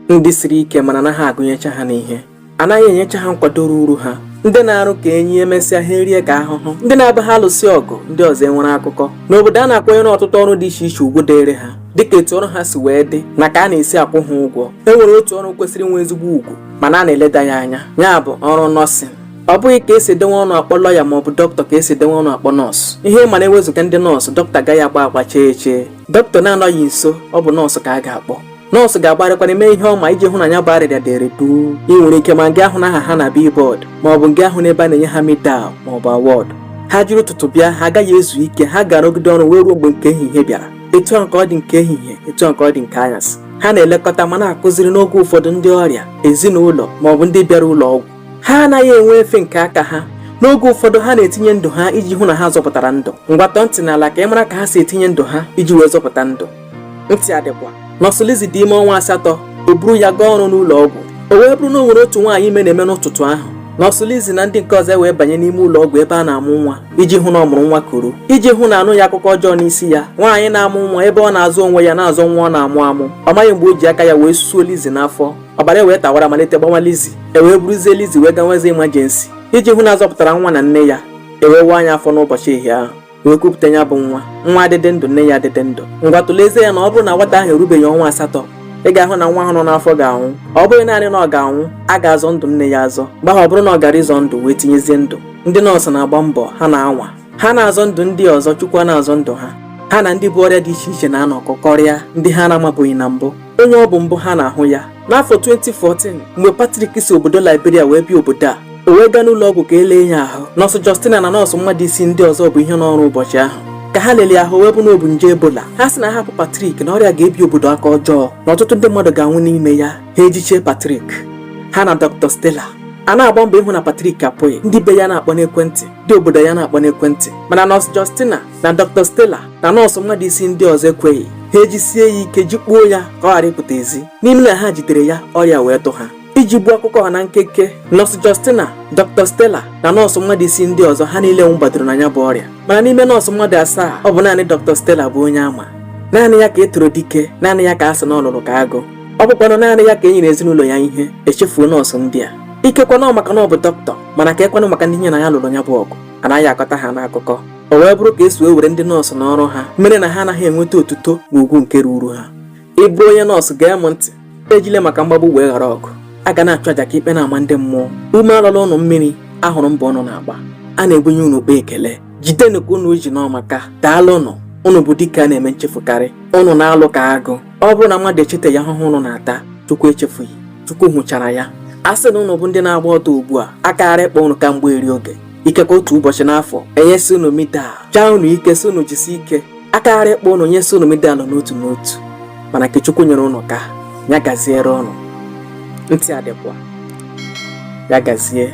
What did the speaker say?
ndị siri ike mana anaghị agụnyecha ha n'ihe anaghị enyecha ha nkwado ruru ha ndị na-arụ ka enyi emesịa ha erie ka ahụhụ ndị na-abụ ha alụsị ọgụ ndị ọzọ enwere akụkọ n'obodo a na-akwanyere ọtụtụ ọrụ dị iche iche ugwu dịrị ha dịka etu ọrụ ha si wee dị na ka a na-esi akwụ ha ụgwọ e nwere otu ọrụ kwesịrị inwe ezigbo ugwu mana a na-eleda ya anya ya bụ ọrụ nọọsịn ọ bụghị ka e si edenwe ọnụ akpọ lọya ma ọ bụ dọkịta ka e si edenwe ọnụ akpọ nọọsụ ihe ị ma na e wezuga ndị nọọsụ dọkịta agaghị agba agba chee chee dọkịta na-anọghị nso ọ bụ nọọsụ ka a ga-akpọ nọọsụ ga-agbarịkwana mee ihe ọ ma iji hụ na ya bụ arịrịa dere duu i nwere ike ma ngị ahụna aha ha na billboard ma ọ bụ ngị ahụna ebe a na-enye ha medal ma ọ bụ award ha jiri ụtụtụ bịa ha agaghị ezu ike ha ga-arụgide ọrụ wee ruo mgbe nke ehihie bịara etu a nke ọ dị nke ehihie etu a nke ọ dị nke anyasị ha na-elekọta ma na-akụziri n'oge ụfọdụ ndị ọrịa ezinụlọ ma ọ bụ ndị bịara ụlọ ọgwụ ha anaghị enwe efe nke aka ha n'oge ụfọdụ ha na-etinye ndụ ha iji hụ na ha zọpụtara ndụ ngwa tọọ ntị n'ala ka ị mara ka ha si etinye ndụ ha iji wee zọpụta ndụ ntị adịkwa nọọsụ Lizzy dị ime ọnwa asatọ o buru ya gaa ọrụ n'ụlọ ọgwụ o wee bụrụ na o nwere otu nwaanyị ime na-eme n'ụtụtụ ahụ nọọsụ Lizzy na ndị nke ọzọ e wee banye n'ime ụlọ ọgwụ ebe a na-amụ nwa iji hụ na ọ mụrụ nwa kuru iji hụ na a nụghị akụkọ ọjọọ n'isi ya nwaanyị na-amụ nwa ebe ọ na-azọ onwe ya na-azọ nwa ọ na-amụ amụ ọ maghị mgbe o ji aka ya wee susuo Lizzy n'afọ ọbara e wee tawara malite gbanwa Lizzy e wee buruzie Lizzy wee gawazie emergency iji hụ na a zọpụtara nwa na nne ya e wee waa ya afọ n'ụbọchị ehihie ahụ wee kupụta ya bụ nwa nwa adịde ndụ nne ya adịde ndụ ngwa tụlezie ya na ọ bụrụ na nwata ahụ erubeghị ọnwa asatọ ị ga-ahụ na nwa ahụ nọ n'afọ ga-anwụ ọ bụghị naanị na ọ ga-anwụ a ga-azọ ndụ nne ya azọ mgbe ahụ ọ bụrụ na ọ gara ịzọ ndụ wee tinyezie ndụ ndị nọọsụ na-agba mbọ ha na-anwa ha na-azọ ndụ ndị ọzọ chukwu na-azọ ndụ ha ha na ndị bu ọrịa dị iche iche na-anọkọkọrịa ndị ha na-amabughị na mbụ onye ọ bụ mbụ ha na-ahụ ya n'afọ 2014 mgbe Patrick si obodo Liberia wee bịa obodo a o wee gaa n'ụlọ ọgwụ ka e lee ya ahụ nọọsụ Justina na nọọsụ mmadụ isii ndị ọzọ bụ ihe nọ ọrụ ụbọchị ahụ ka ha lelee ya ahụ o wee bụ na o bu nje Ebola ha sị na a hapụ Patrick na ọrịa ga-ebi obodo aka ọjọọ na ọtụtụ ndị mmadụ ga-anwụ n'ime ya ha ejichie Patrick ha na Dr. Stella a na-agba mbọ ịhụ na Patrick apụghị ndị be ya na-akpọ n'ekwentị ndị obodo ya na-akpọ n'ekwentị mana nọọsụ Justina na Dr. Stella na nọọsụ mmadụ isii ndị ọzọ ekweghị ha ejisie ya ike jikpuo ya ka ọ ghara ịpụta ezi n'ime na ha jidere ya ọrịa wee tụ ha iji gbuo akụkọ ha na nkeke nọọsụ Justina Dr. Stella na nọọsụ mmadụ isii ndị ọzọ ha niile nwụgbadoro na ya bụ ọrịa mana n'ime nọọsụ mmadụ asaa ọ bụ naanị Dr. Stella bụ onye a ma naanị ya ka e toro dike naanị ya ka a sị na ọ lụlụ ka agụ ọ bụkwanụ naanị ya ka e nyere ezinụlọ ya ihe e chefuo nọọsụ ndị a ikekwe na ọ maka na ọ bụ dọkịta mana keekwanụ maka ndị ya na ya lụrụ ya bụ ọgụ anaghị akọta ha n'akụkọ o wee bụrụ ka esi wee were ndị nọọsụ n'ọrụ ha mere na ha anaghị enweta otuto na ugwu nke ruru ha ị bụrụ onye nọọsụ gee m ntị ejile maka mgbagbu wee ghara ọgụ a ga na-achụ aja ka ikpe na-ama ndị mmụọ ume alọla ụnụ mmiri a hụrụ mbọ ụnụ na-agba a na-ebunye unu ụkpa ekele jidenụ ka unu ji na ọ maka daalụnụ ụnụ bụ dike a na-eme nchefukarị ụnụ na-alụ ka agụ ọ bụrụ na mmadụ echetaghị ahụhụ ụnụ na-ata chukwu echefughị chukwu hụchara ya a sị na ụnụ bụ ndị na-agba ọtọ ugbu a a ka gaara ịkpọ ụnụ kamgbe eri oge ikekwe otu ụbọchị n'afọ enyesi unu medal jaa unu ike sị unu jisi ike a ka gaara ịkpọ unu nyesi unu medal n'otu n'otu mana nke Chukwu nyere unu ka ya gaziere unu ntị adịkwa ya gazie